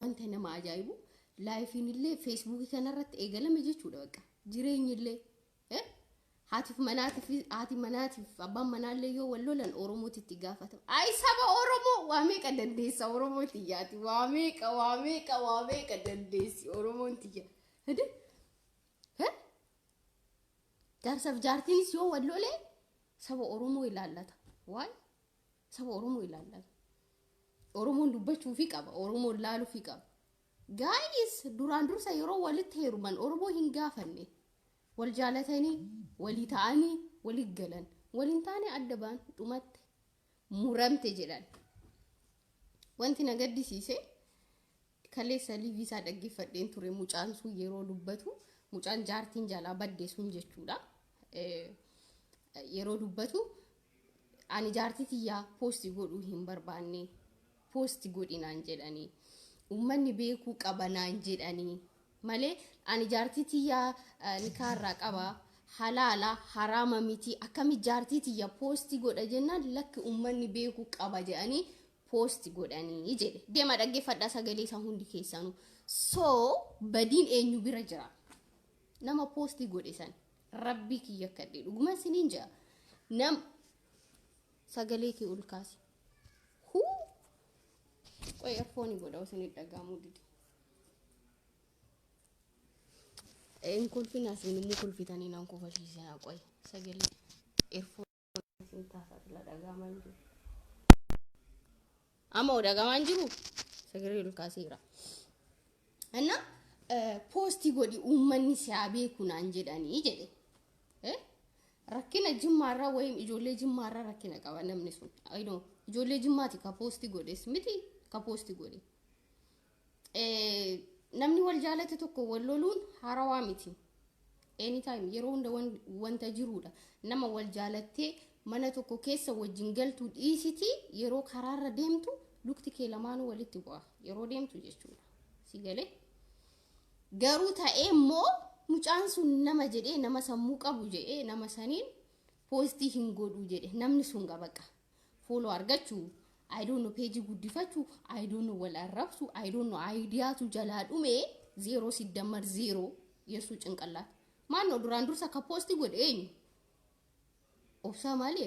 Wanta nama ajaa'ibu laayifiin illee feesbuukii kanarratti eegalame jechuudha bakka jireenyi illee eh? haatiif manaatiif haati manaatiif abbaan manaallee yoo wal lolan oromooti itti gaafatama ayi saba oromoo waa meeqa dandeessa oromoo tiyyaati waa meeqa waa meeqa waa meeqa dandeessi oromoon tiyya hede eh? jaarsaaf jaartiinis yoo wal lolee saba oromoo ilaallata waay Saba Oromoo ilaallame. Oromoon dubbachuufi qaba. Oromoon laaluufi qaba. Gaayis duraan dursa yeroo walitti heeruman Oromoo hin gaafanne. Wal jaalatanii, walii ta'anii, walii galan. Waliin taane adda baan dhumatte. Muramte jedhan. Wanti na gaddisiise Kaleessa live isaa dhaggeeffadheen ture mucaan sun yeroo dubbatu mucaan jaartiin jalaa badde sun jechuudha. Eh, Yeroo dubbatu ani jaartii tiyyaa poosti godhuu hin barbaanne poosti godhi naan jedhanii uummanni beekuu qaba naan jedhanii malee ani jaartii tiyyaa eh, nikaarraa qaba halaala haraama miti akkami jaartii tiyya poosti godha jennaan lakki uummanni beekuu qaba jedhanii post godhanii jedhe deema dhaggeeffadhaa sagalee isaa hundi keessanuu so badiin eenyu bira jira nama posti godhe san rabbii kiyya kadhe dhuguma isiniin jira nam sagalee kee ol kaasi huu qoy erfooni godha osoo hin dhagahamuu dide hin kolfin asiin immoo kolfitanii nan kofashiisina qoy sagalee erfooni isin taasaa sila dhagaamaa hin jiru. Amma hoo dhagaamaa hin jiru? Sagalee ol kaaseera. Anna poostii godhi uummanni si haa beeku naan jedhanii jedhe. Eh? Rakkina jimmaarraa wayim ijoollee jimmaarraa rakkina qaba namni sun. Ayinoo ijoollee jimmaati ka poostii godhes miti ka poostii godhe. namni wal jaalate tokko wal loluun haarawaa miti. Anytime yeroo hunda wanta jiruudha. Nama wal jaalattee mana tokko keessa wajjin galtu dhiisiti yeroo karaarra deemtu lukti kee lamaanuu walitti bu'a. Yeroo deemtu jechuudha. Si galee? Garuu ta'ee immoo mucaan sun nama jedhee nama sammuu qabu jedhee nama saniin poostii hin godhu jedhe namni sun gabaqa. Fooloo argachu, I don't know peejii guddifachu, I don't know wal arrabsu, I don't know ayidiyaatu jalaa dhume zeeroo siddammar zeeroo yeessuu cinqallaat. Maannoo duraan dursa ka poosti godhe eenyu? Obsaa maali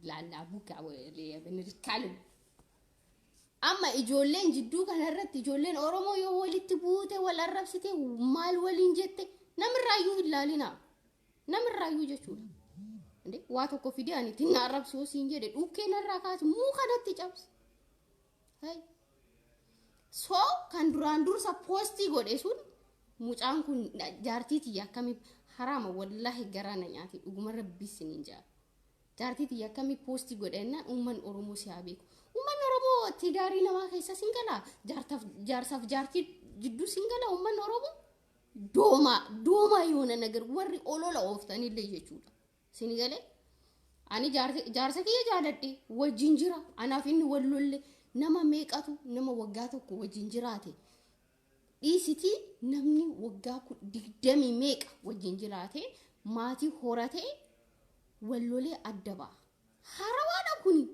laallaa bukaa rikkaalin. Amma ijoolleen jidduu kanarratti ijoolleen Oromoo yoo walitti buute wal arrabsite maal waliin jette namirraayyuu hin laalinaa. namirraayyuu jechuudha. Inde waa tokko fidee ani ittiin na arrabsi yoo siin jedhe dhukkee narraa kaasi muu kanatti cabsi. Hey. So kan duraan dursa poostii godhe sun mucaan kun na- jaartii tiyya akkamii haraama wallaahi garaa na nyaate dhuguma rabbii isiniin jaa. Jaartii tiyya akkamii poostii godhe jennaan uummanni Oromoo si haa beeku. Uummanni Oromoo tidaarii namaa keessa sin galaa jaartaaf jaarsaaf jaartii jidduu sin galaa uummanni Oromoo. doomaa doomaa yoona nagar warri olola ooftanillee jechuudha sini galee ani jaarsa- jaarsa kiyya jaaladhe wajjin jira anaaf inni wal lolle nama meeqatu nama waggaa tokko wajjin jiraate dhiisitii namni waggaa ku- digdamii meeqa wajjin jiraate maatii horatee wal lolee adda ba'a harawaadha kuni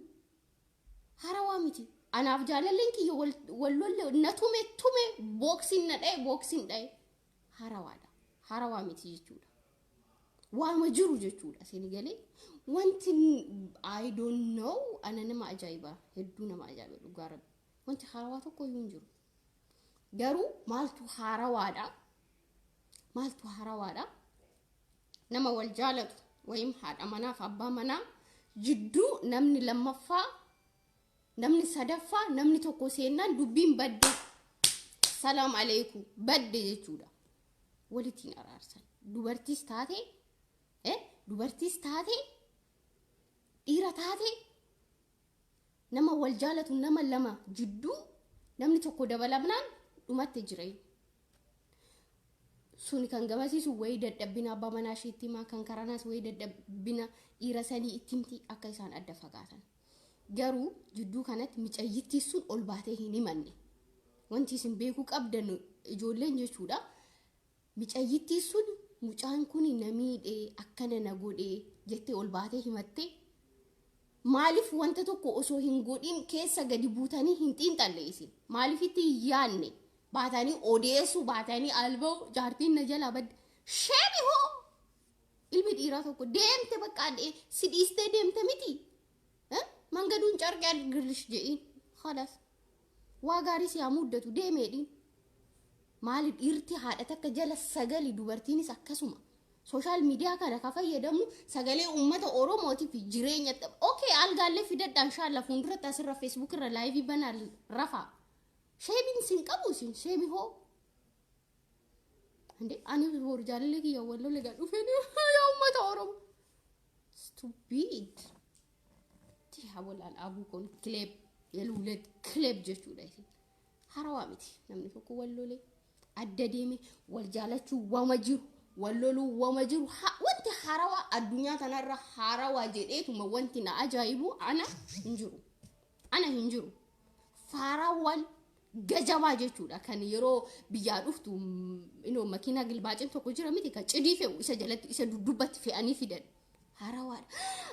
Harawaa miti. Anaaf jaalalleen kiyya wal wal lolle na tume tume booksiin na dhaye booksiin dhaye. Harawaadha. Harawaa miti jechuudha. Waama jiru jechuudha sini galee. Wanti n- I don't know ana nama ajaa'iba hedduu nama ajaa'iba dhugaa rabbi. Wanti harawaa tokko iyyuu hin jiru. Garuu maaltu haarawaadha? Maaltu haarawaadha? nama wal jaalatu wayim haadha manaaf abbaa manaa jidduu namni lammaffaa namni sadaffaa namni tokko seennaan dubbiin badde salaam aleeku badde jechuudha walittiin araarsan dubartiis taate eh, dubartiis taate dhiira taate nama wal jaalatu nama lama jidduu namni tokko dabalamnaan dhumatte jireenya suni kan gamasiisu wayii dadhabbina abbaa manaa ishee itti himaa kan karanaas wayii dadhabbina dhiira sanii itti himti akka isaan adda fagaatan garuu jidduu kanatti micayyittii sun ol baatee hin himanne wanti isin beekuu qabdan ijoolleen jechuudha micayyittii sun mucaan kun na miidhee akkana na godhee jettee ol baatee himattee maaliif wanta tokko osoo hin godhin keessa gadi buutanii hin xiinxalle isin maaliif itti hin yaadne baatanii odeessuu baatanii alba'u jaartiin na jalaa badde sheemi hoo ilmi dhiiraa tokko deemte bakka adhee si dhiistee deemte miti Eh? mangaduun carqee adgirlish je'iin halas waa gaarii si haa muddatu deemeedhiin maali dhiirti haadha takka jala sagali dubartiinis akkasuma sooshaal miidiyaa kana ka fayyadamnu sagalee uummata oromootii fi jireenya ok algaallee fidadhaan shaalla fuulduratti asirra feesbuuk irra laayivii banaa rafaa Sheemiin isin qabu isin sheemi hoo. Ande ani boru jaalallee kiyya walloo lega dhufeen yaa uummata Oromoo. Stupid. Tiyaa walaan abuu kun kileeb yeluulee kileeb jechuudha isin. Harawaa miti namni tokko walloolee adda deeme wal jaalachuu wama jiru walloluu wama jiru ha- wanti harawaa addunyaa kanarra harawaa jedheetuma wanti na ajaa'ibu ana hin jiru. Ana hin jiru. Faaraawwan gajabaa jechuudha kan yeroo biyyaa dhuftu inoo makiinaa gilbaacin tokko jira miti kan cidii fe'u isa jalatti isa duddubbatti fe'anii fidan. Haarawaadha.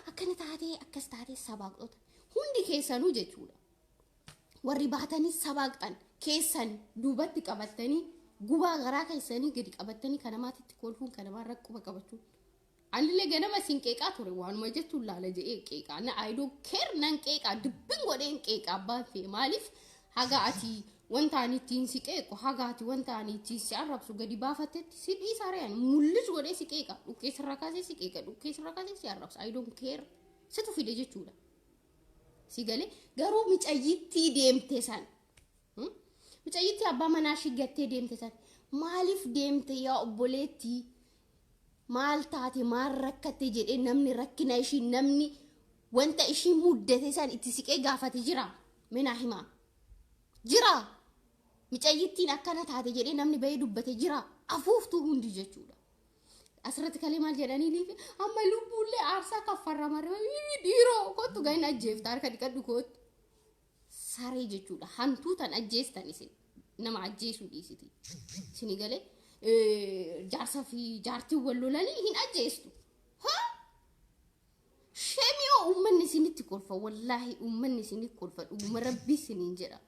Akkana taatee akkas taatee sabaaqxota hundi keessanuu jechuudha. Warri baatanii sabaaqxan keessan duubatti qabattanii gubaa garaa keessanii gadi qabattanii kana maatitti kolfuun kana maan rakkuma qabachuun Anillee ganama sin qeeqaa ture waanuma jettuun laala jedhee qeeqaa na I don't care nan qeeqaa dubbin godheen qeeqaa abbaan fee maaliif haga ati wanta ani ittiin si qeequ haga ati wanta ani ittiin si arrabsu gadi baafattetti si dhiisaa re'an mullis godhee si qeeqa dhukkee sirra kaasee si qeeqa dhukkee sirra kaasee si arrabsa I don't care situ fide jechuudha si galee garuu micayyittii deemte san Hmm? Mucayyittii abbaa manaa ishii gattee deemte san maaliif deemte yaa obboleetti maal taate maal rakkatte jedhee namni rakkina ishii namni wanta ishii muddate san itti siqee gaafate jira minaa himaa jira mucayyittiin akkana taate jedhee namni bahee dubbate jira afuuftuu hundi jechuudha. Asirratti kalee maal jedhanii liifi amma lubbuullee aarsaa kaffarra marra dhiiroo kottu gahina ajjeefta harka dhiqadhu kootu. saree jechuudha hantuu tan ajjeestan isin nama ajjeesuu dhiisiti isinii galee jaarsa fi jaartiin wal lolanii hin ajjeestu ha shemiyoo uummanni isinitti kolfa wallaahi uummanni isinii kolfa dhuguma rabbii isiniin jedha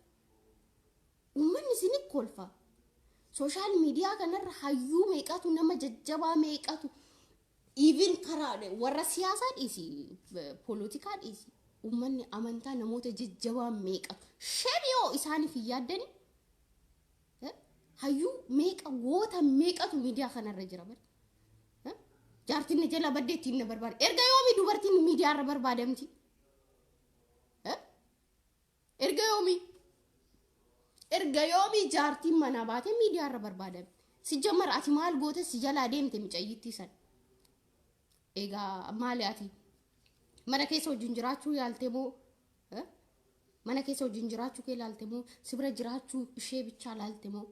uummanni isinii kolfa sooshaal miidiyaa kanarra hayyuu meeqatu nama jajjabaa meeqatu Even karaa warra siyaasaa dhiisi, polotikaa dhiisi. Uummanni amantaa namoota jajjabaa meeqa shan yoo isaaniif hin yaaddani hayyuu meeqa goota meeqatu miidiyaa kanarra jira bari. Jaartiin na jala baddee ittiin na barbaada. Erga yoomi dubartiin miidiyaa irra barbaadamti? Erga yoomii? Erga yoomii jaartiin manaa baatee miidiyaa irra barbaadame. Sijjammar ati maal goote si jalaa deemte micayyittii san. Egaa maali ati? Mana keessa wajjin jiraachuu yaalte moo? eh? Mana keessa wajjin jiraachuu kee laalte moo? Si bira jiraachuu ishee bichaa laalte moo?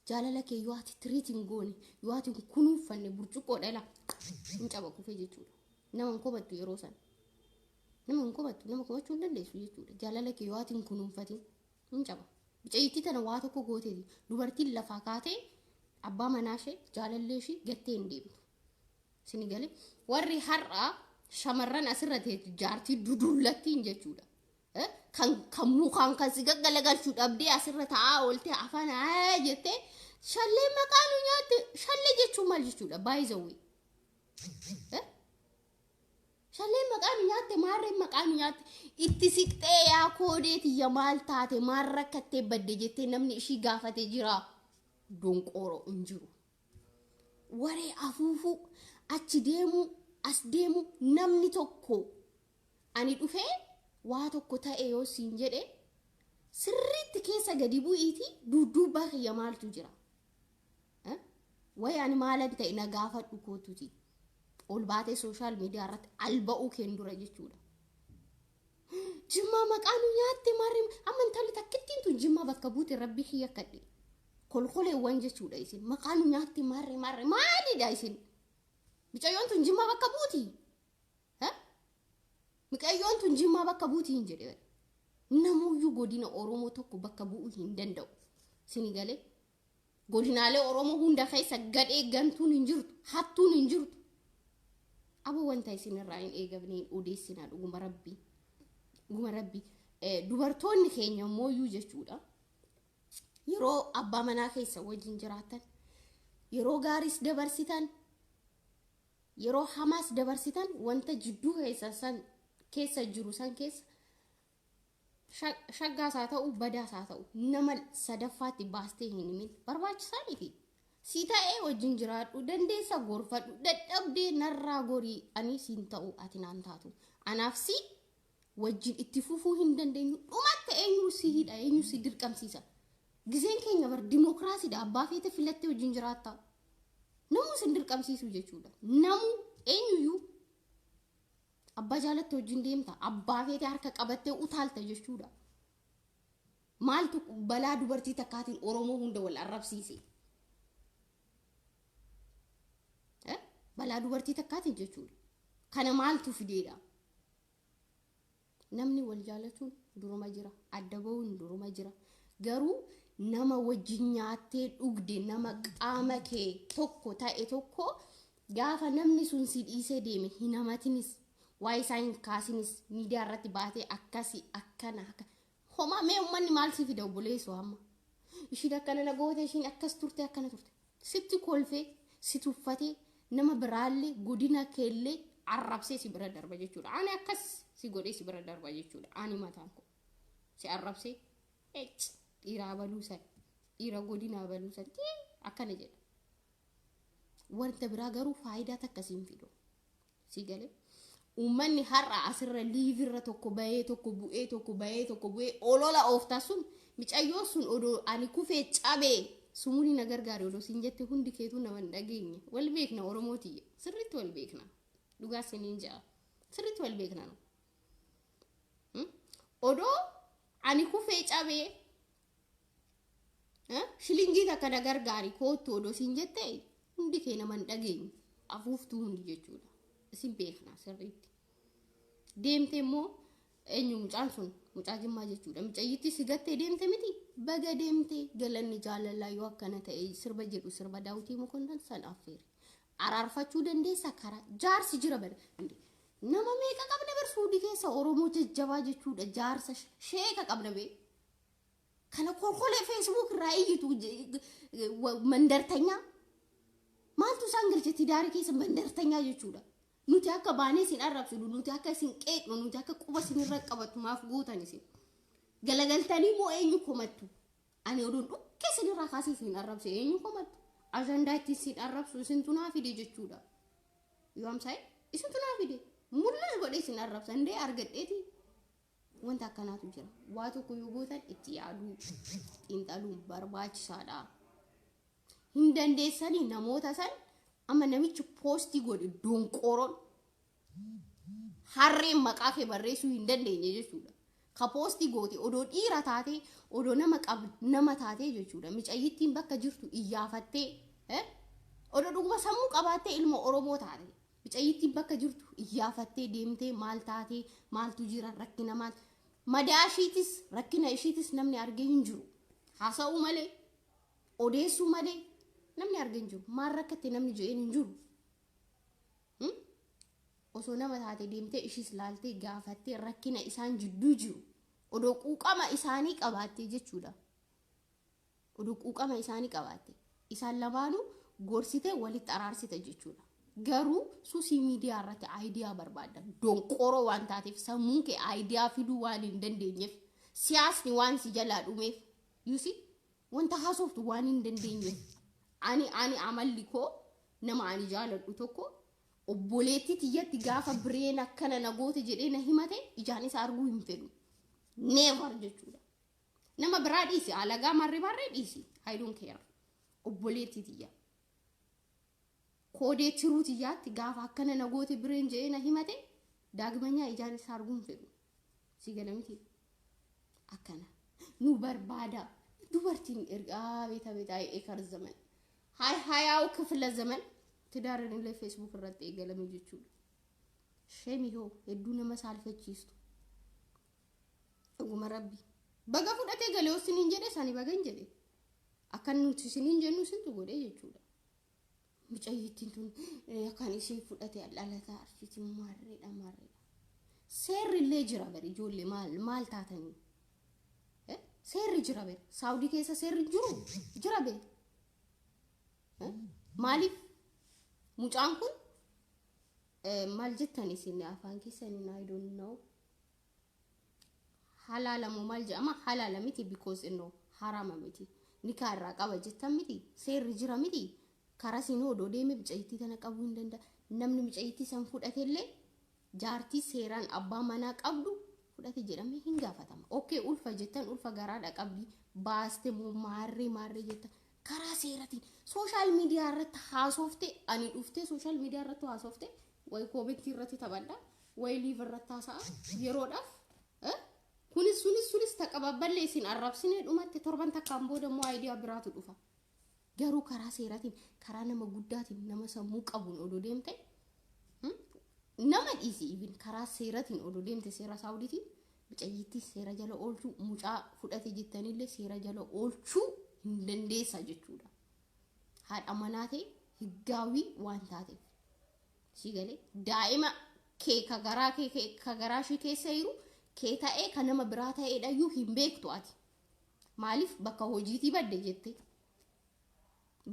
Jaalala kee yoo ati tiriit hin goone, yoo ati hin kunuunfanne burcuqqoo dhala hin cabaquufee jechuudha. Nama hin komattu yeroo sana. Nama hin komattu, nama komachuu hin dandeessu jechuudha. Jaalala kee yoo ati hin kunuunfatin hin caba. Mucayyittii tana waa tokko gooteeti. Dubartiin lafaa kaatee abbaa manaa ishee jaalallee ishee gattee hin deemtu. Sini galee warri har'aa shamarran asirra teetu jaartii duduullattiin jechuudha. Eh, kan kan mukaan kan si gaggalagalchu dhabdee asirra taa'aa oolte afaan haa jettee shallee maqaa nu nyaatte shallee jechuun maal jechuudha baay'isawwee. Shallee maqaa nu nyaatte maarreen maqaa nu nyaatte itti siqxee yaa koodee tiyya maal taate maal rakkattee badde jettee namni ishii gaafate jira donqooroo hin jiru. Waree afuufuu achi deemuu as deemuu namni tokko Ani dhufee waa tokko ta'e yoo siin jedhe sirriitti keessa gadi bu'iitii duudduubbaa kiyya maaltu jira? Eh? Wayi ani maalan ta'e na gaafadhu kootuti. Ol baatee sooshaal miidiyaa irratti alba'uu keen dura jechuudha. Jimmaa maqaa nu nyaatte maarree amma intalli takkittiin tun jimmaa bakka buute rabbii kiyya kadhe. Kolkoleewwan jechuudha isin maqaa nu nyaatte maarree maarree maalidha isin? Mucayyoon tun jimmaa bakka buuti. Ha? Miqayyoon tun jimmaa bakka buuti hin jedhe bari. Namuuyyuu godina Oromoo tokko bakka bu'uu hin danda'u. Sini galee godinaalee Oromoo hunda keessa gadhee gantuun hin jirtu, hattuun hin jirtu. Abo wanta isin irraa hin eegamne hin odeessinaa dhuguma rabbii. Dhuguma rabbii. Eh, Dubartoonni keenya immoo iyyuu jechuudha. Yeroo abbaa manaa keessa wajjin jiraatan, yeroo gaariis dabarsitan, Yeroo hamaas dabarsitan wanta jidduu keessan san keessa jiru san keessa shaggaas haa ta'u badaas haa ta'u nama sadaffaatti baastee hin himin barbaachisaa miti. Si ta'ee wajjin jiraadhu dandeessa gorfadhu dadhabdee narraa gorii ani siin ta'u ati naan taatu anaaf si wajjin itti fufuu hin dandeenyu dhumatta eenyu si hidha eenyu si dirqamsiisa gizeen keenya bar dimookiraasiidha abbaa feete filattee wajjin jiraatta namuu sin dirqamsiisu jechuudha namuu eenyuyyuu abbaa jaalatte wajjin deemta abbaa feete harka qabattee utaalta jechuudha maaltu balaa dubartii takkaatiin oromoo hunda wal arrabsiise Eh? balaa dubartii takkaatiin jechuudha kana maaltu fideedha Namni wal jaalatuun duruma jira. Adda ba'uun duruma jira. Garuu nama wajjin nyaattee dhugde nama qaama kee tokko ta'e tokko gaafa namni sun si dhiisee deeme hin hamatinis waa'ee isaa hin kaasinis miidiyaa irratti baatee akkasi akkana akka Homaa mee ummanni maal si fida obboleessoo amma. Ishiin akkana na goote ishiin akkas turte akkana turte. Sitti kolfee si tuffatee nama biraallee godina keellee arrabsee si bira darba jechuudha. Ani akkas si godhee si bira darba jechuudha. Ani mataan koo si arrabsee ec dhiiraa baluu san dhiira godinaa baluu san tii akkana jedha. Wanta biraa garuu faayidaa takka siin fidu. Sii galee? Uummanni har'a asirra liivirra tokko bahee tokko bu'ee tokko bahee tokko bu'ee olola ooftaa sun micayyoo sun odoo ani kufee cabee sumuni na gargaari odoo siin jette hundi keetuu nama hin dhageenye. Wal beekna Oromoo tiyya. Sirriitti wal beekna. Dhugaa siniin ja'a. Sirriitti wal beekna nu. Hmm? Odoo ani kufee cabee shilingii takka na gargaari koottu odoo siin jette hundi kee nama hin dhageenyu afuuftuu hundi jechuudha isin beekna sirriitti deemte immoo eenyu mucaan sun mucaa jimmaa jechuudha mucayyitti si gattee deemte miti baga deemte galanni jaalalaa yoo akkana ta'e sirba jedhu sirba daawwitii mokonnan san affeeri araarfachuu dandeessa karaa jaarsi jira bari nama meeqa qabna bar suudii keessa oromoo jajjabaa jechuudha jaarsa sheeka qabna bee Kana kolkolee Facebook irraa iyyitu mandartanyaa. Maaltu isaan galche tidaarii keessa mandartanyaa jechuudha. Nuti akka baanee isin arrabsinu, nuti akka isin qeeqnu, nuti akka quba isin irra qabattu maaf gootan isin. Galagaltanii moo eenyu komattu? Ani oduun dhukkee isin irraa kaasee isin arrabse eenyu komattu? Ajandaa itti isin arrabsu isintu naa fide jechuudha. Yoo amsaa'e isintu naa fide. Mul'as godhee isin arrabsa. Indee argadheeti. Wanta akkanaatu jira. Waa tokko yoo gootan itti yaaduu, xiinxaluun barbaachisaadha. Hin dandeessanii namoota san amma namichi poostii godhe donqooroon harreen maqaa kee barreessuu hin dandeenye jechuudha. Ka poostii goote odoo dhiira taatee odoo nama qab nama taatee jechuudha. Micayyittiin bakka jirtu iyyaafattee eh? odoo dhuguma sammuu qabaattee ilma Oromoo taate. Micayyittiin bakka jirtu iyyaafattee deemtee maal taatee maaltu jira rakkina maal madaa ishiitis rakkina ishiitis namni argee hin jiru. Haasa'uu malee odeessuu malee namni argee hin jiru. Maal rakkatte namni je'een hin jiru. Hmm? Osoo nama taate deemtee ishiis laaltee gaafattee rakkina isaan jidduu jiru odoo quuqama isaanii qabaattee jechuudha. Oduu quuqama isaanii qabaatte isaan lamaanuu gorsite walitti araarsita jechuudha. Garuu susii miidiyaa irratti aayidiyaa barbaadda. Donqooroo waan taateef sammuun kee aayidiyaa fiduu waan hin dandeenyeef siyaasni waan si jalaa dhumeef yusi wanta haasoftu waan hin dandeenyeef ani ani amalli koo nama ani jaaladhu tokko obboleettii tiyyatti gaafa bireen akkana na goote jedhee na himate ijaan isa arguu hin fedhu. Never jechuudha. Nama biraa dhiisi alagaa marri barree dhiisi. I don't care. Obboleettii tiyya. Koodee tiruu tiyyaatti gaafa akkana na goote bireen je'ee na himate daagmanyaa ijaan isaa arguun fedhu. Si gala miti. Akkana. Nu barbaada. Dubartiin ergaa beeta beeta eekar zaman. Hay hayaa'u kifila zaman. Tidaareen illee feesbuuk irratti eegalame jechuudha. Sheemii hoo hedduu nama saalfachiistu. Dhuguma rabbi. Baga fudhatee galee yoo siniin jedhe sani baga hin jedhe. Akka nuti siniin jennu sintu godhee jechuudha. Mucayyittiin tun eh, kan ishee fudhate dhalataa arsiiti maarreedha maarreedha. Seerri illee jira bari ijoollee maal maal taatanii? Eh, Seerri jira bari. Saawudii keessa seerri hin jiru jira bari. Eh, Maaliif mucaan kun eh, maal jettan isin afaan keessaniin I don't know halaalamu maal jedhama halaala miti because innoo harama miti nikaa irraa qaba jettan miti seerri jira miti karaa siin odoo deeme mucayyittii tana qabuu hin danda'a namni mucayyittii san fudhatellee jaartii seeraan abbaa manaa qabdu fudhate jedhamee hin gaafatama okkee ulfa jettan ulfa garaadha qabdi baaste moo maarree maarree jettan karaa seeratiin sooshaal miidiyaa irratti haasofte ani dhuftee sooshaal miidiyaa irratti haasofte wayi koomentii irratti taphadha wayi liiv irratti haasa'a yeroodhaaf eh, kunis sunis sunis taqababballe isin arrabsine dhumatti torban takkaan booda immoo ayidiyaa biraatu dhufa garuu karaa seeratiin karaa nama guddaatiin nama sammuu qabuun odoo deemte hmm, nama dhiisi even karaa seeratiin odoo deemte seera saawuditiin Mucayyiittis seera jala oolchuu, mucaa fudhate jettanillee seera jala oolchuu hin dandeessa jechuudha. Haadha manaa ta'e higgaawii waan taateef. Si galee daa'ima kee ka garaa kee kee- ka garaa ishii keessa jiru kee ta'ee ka nama biraa ta'eedhayyuu hin beektu ati. Maaliif bakka hojiitii badde jettee.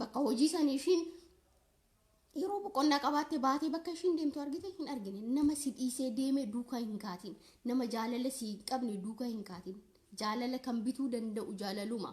Bakka hojii sanii ishiin yeroo boqonnaa qabaatte baatee bakka ishiin deemtu argite hin argine nama si dhiisee deeme duukaa hin kaatin nama jaalala si hin qabne duukaa hin kaatin jaalala kan bituu danda'u jaalaluma